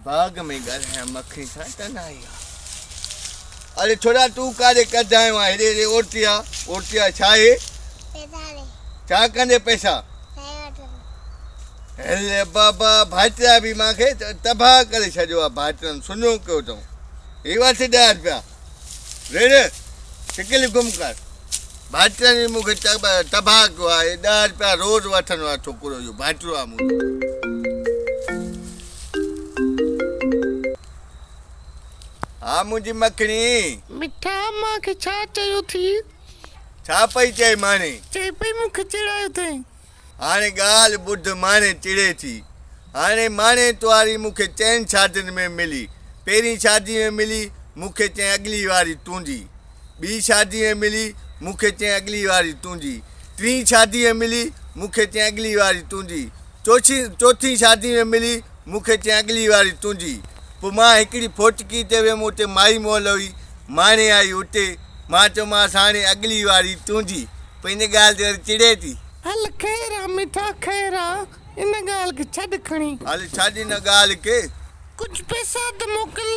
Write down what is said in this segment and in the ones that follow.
باغ ۾ ڳالهايان مکڙين سان تنهائي آ اري ڇوڙا تون ڪاري ڪڌايو آ هيڏي هيڏي اورتي آ اورتي آ ڇا هي ڇا ڪندي پئسا هل بابا ڀائٽيا به مانکي تباهه ڪري ڇڏيو آ ڀائٽن سنو ڪيو اٿئون هي وٺ ڏهه رپيا، وڙهه شڪل گم ڪر. ڀائٽرن جي مون کي تباهه ڪيو آ، هي ڏهه رپيا روز وٺندو آ ڇوڪرو اهو ڀائٽرو آ منهنجو. ها منهنجي مکڻي. مٺا مان کي ڇا چيو ٿي؟ ڇا پئي چئي ماڻي. چئي پئي مون کي چيڙايو ٿئين. هاڻي ڳالهه ٻڌ ماڻي چڙي ٿي. هاڻي ماڻي توهاري مون کي چئن شادين ۾ ملي. پهرين شادي ۾ ملي، مون کي چئين اڳلي واري تونجي. ٻي شادي ۾ ملي، مون کي چئين اڳلي واري تونجي. ٽين شادي ۾ ملي، مون کي چئين اڳلي واري تونجي. چوڇين چوٿين شادي ۾ ملي، مون کي چئين اڳلي واري تونجي. پوء مان هڪڙي ڦوٽڪي تي ويم اتي مائي مئل هئي. ماڻي آئي اتي. مان چيومانس هاڻي اڳلي واري تونجي. پوء ان ڳالهه تي وري چڙي ٿي. هل خير آ مٺا خير آ. ان ڳالهه کي ڇڏ کڻي. هل ڇڏ ان ڳالهه کي. ڪجهه پئسا ته موڪل.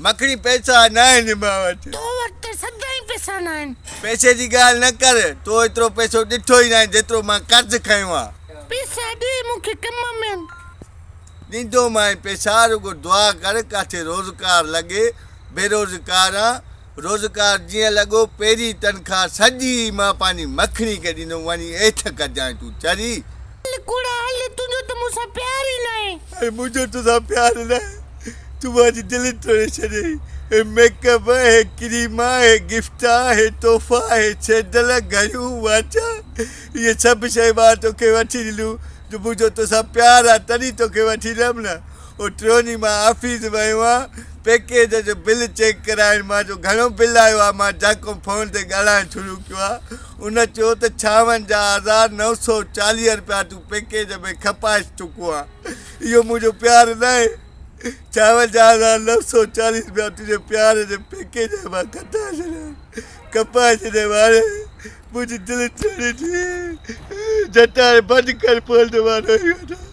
مکڻي پئسا ناهن مان وٽ. تو وٽ ته سدائين پئسا ناهن. پئسي جي ڳالهه نه ڪر. تو ايترو پئسو ڏٺو ئي ناهي جيترو مان قرض کنيو آ. پئسا ڏي مون کي ڪم ۾ آهن. ڏيندومانء پئسا رڳو دعا ڪر ڪاٿي روزگار لڳي. بيروزگار آن. روزگار جيئن لڳو پيري تنخواه سڄي مان پنهنجي مکڻي کي ڏيندم وڃي ايٺ ڪجانء تون چري. هل ڪوڙا هل تنهنجو ته مون سان پيار ئي ناهي. هي منهنجو تو سان پيار ناهي تون مانجي دل ٽوڙي ڇڏيئي هي ميڪ اپ هي ڪريما هي گفٽا هي تحفا هي سينڊل گهڙيون واچا اهي سڀ شيون مان توکي وٺي ڏنيون جو منهنجو تو سان پيار آ تڏهين توکي وٺي ڏنم نه هو ٽيون ڏينهن مان آفيس ويو هان پيڪيج جو بل چيڪ ڪرائڻ مان جو گهڻو بل آيو آهي مان جاکو فون تي ڳالهائڻ شروع ڪيو آهي ان چيو ته ڇاونجاهه هزار نو سؤ چاليهه رپيا تون پيڪيج ۾ کپائس چڪو آهي اهو منهنجو پيار ناهي ڇاونجاهه هزار نو سؤ چاليهه رپيا تنهنجي پيار جي پيڪيج مان کٽائي ڇڏيا کپائي ڇڏيا هاڻي منهنجي دل ٽڙي ٽڙي جٽاڻ بند ڪر پوء ته مان رهي وڃان